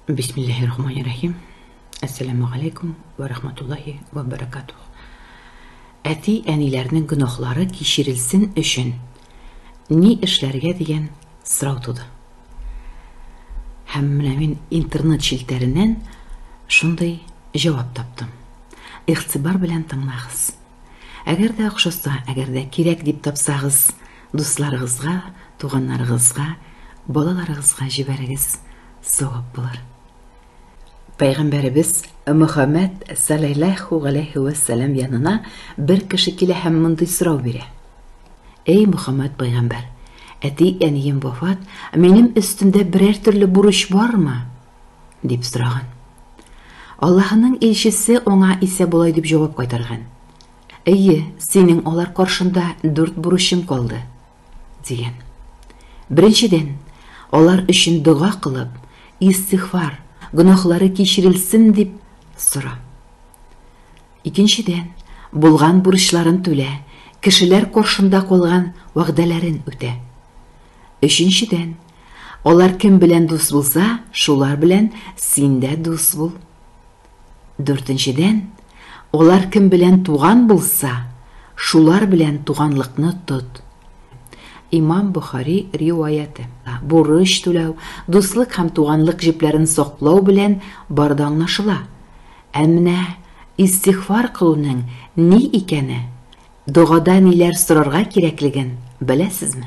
Бисмиллаһи-рахмани-рахим. Әссәламу алейкум ва рахматуллаһи ва баракатух. Әти, әниләрнең гөнаһлары кичерелсен өчен ни эшләргә дигән сорау туды. Һәм менә мин интернет челтәреннән шундый җавап таптым. Ихтибар белән тыңлагыз. Әгәр дә охшаса, әгәр дә кирәк дип тапсагыз, Дусларыгызга, туганнарыгызга, балаларыгызга җибәрегез, савап булыр. Пәйгамбәребез Мөхәммәд салләллаһу галәйһи ва саллям янына бер кеше килә һәм мондый сорау бирә. Эй Мөхәммәд пәйгамбәр, әти-әнием вафат, минем өстемдә берәр төрле бурыч бармы? дип сораган. Аллаһының илчесе аңа исә болай дип җавап кайтарган. Әйе, синең алар каршында дүрт бурычың калды, дигән. Беренчедән, алар өчен дога кылып, истихфар, гөнаһлары кичерелсен дип сора. Икенчедән, булган бурычларын түлә, кешеләр каршында калган вәгъдәләрен үтә. Өченчедән, алар кем белән дус булса, шулар белән син дә дус бул. Дүртенчедән, алар кем белән туган булса, шулар белән туганлыкны тот. Имам Бохари риваяте. Бурыч түләү, дуслык һәм туганлык җепләрен саклау белән бар да аңлашыла. Ә менә истигъфар кылуның ни икәне, догада ниләр сорарга кирәклеген беләсезме?